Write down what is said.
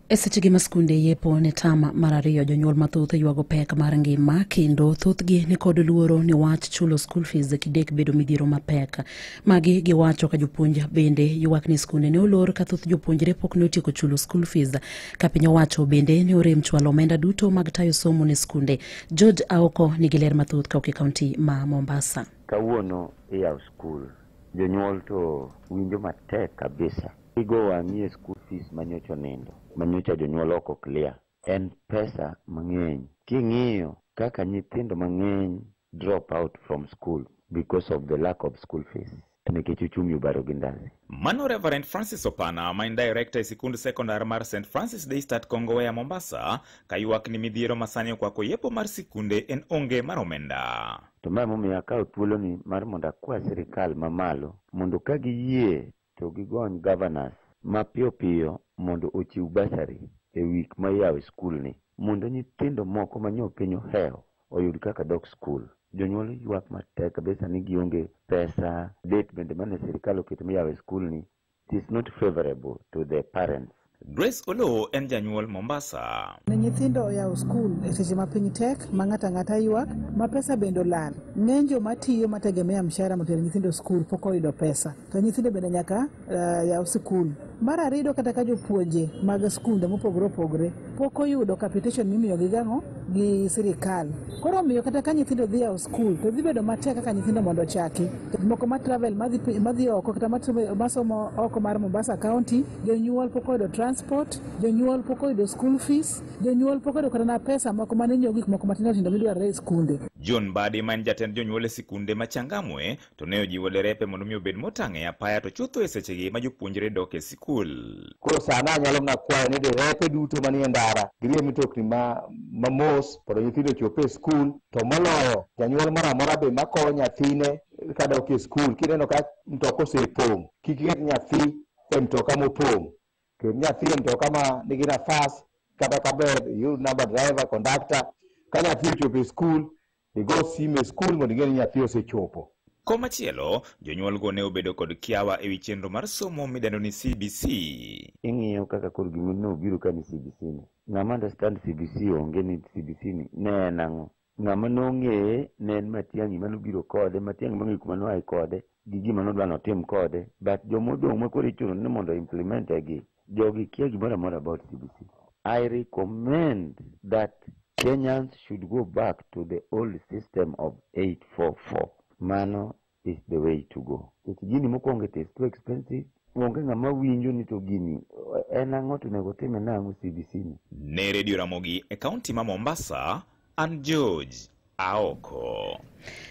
E seche gi ma skunde yepo ne tam mar ariyo jonyuol mathoth ywago pek mar ngima kendo thothgi ni kod luoro ni wach chulo school fees kidek bedo midhiero mapek. Magi giwacho ka jopuonj bende ywak ni skunde ne olor ka thoth jopuonjre pok ne otieko chulo school fees ka piny owacho bende ne orem chwalo omenda duto mag tayo somo ne skunde. George Aoko nigi ler mathoth ka ok e kaunti ma Mombasa. Kawuono iyawo skul, jonyuol to winjo matek kabisa. Igo wang'i e school fees manyocha onindo, manyocha jonyuol ok o clear. En pesa mang'eny king'iyo kaka nyithindo mang'eny drop out from school because of the lack of school fees nikech uchumi obaro gi ndasi. Mano Reverend Francis Opana ma en director e sikund sekondar mar St Francis Daystat Kongowea Mombasa ka ywak ni midhiero masani okwako yepo mar sikunde en onge mar omenda. To ma emomiyo akawo thuoloni mar mondo akwa sirkal mamalo mondo ka giyie to gigony governors mapiyo piyo mondo ochiw bursary e week ma iyawe skul ni mondo nyithindo moko ma nyo piny ohewo oyud kaka dok skul. Jonyuol ywak matek kabisa ni gionge pesa, date bende mane sirikal oketo miyawe skul ni it is not favourable to the parents. Grace Oloo en janyuol Mombasa. Ne nyithindo oyawo skul e seche ma piny tek ma ng'ato ang'ata ywak ma pesa bende olal. Ng'eny joma tiyo mategemea mshahara motero nyithindo skul pok oyudo pesa. To nyithindo bende nyaka uh, yaw skul. Mar ariyo kata ka jopuonje mag skunde mopogore opogore pok oyudo capitation mimiyogi gang'o gi sirikal. Koro omiyo kata ka nyithindo dhi yawo skul to dhi bedo matek kaka nyithindo mondo ochaki. Moko ma travel madhi pi- madhi oko kata masomo oko mar Mombasa County jonyuol pok oyudo transport jonyuol pok oyudo school fees jonyuol pok oyudo kata na pesa moko mane nyiewo gik moko matindo tindo midwarore e skunde John Badi ma en jatend jonyuol e sikunde ma Changamwe to ne ojiwo derepe mondo mi obed motang' e apaya to chutho e sechegi ma jopuonjre dok e sikul. Koro sani anyalo mana kwayo ni derepe duto manie ndara girie mitokni ma mamos mondo nyithindo ochop e skul to moloyo janyuol moro amora be makowo nyathine kadok e skul kineno ka mtoka osepong' kik iket nyathi e mtoka mopong' ket nyathi e mtoka ma nigi nafas kata kaber iyud namba driver conductor ka nyathi ochopo e skul igo sim e skul mondo ing'e ni nyathi osechopo Komachielo, jonyuolgo ne obedo kod kiawa ewi chenro mar somo midendo ni CBC. ing'iyo kaka koro gima nobiro ka ni CBC ni. Ng'ama understand CBC onge ni CBC ni ne en ang'o. Ng'ama nong'eye ne en Matiang'i mane obiro kode, Matiang'i mong'eyo kuma noaye kode gi gima nodwa notim kode but joma odong' makoro ichuno ni mondo o implement e gi jogi kia gimoro amora about CBC. I recommend that Kenyans should go back to the old system of 844. Mano is the way to go. Nikech gini mokwongo it is too expensive. Onge ng'ama winjo ni to gini en ang'o to onego time nang'o CBC ni. Ne redio Ramogi e kaunti ma Mombasa, an George Aoko.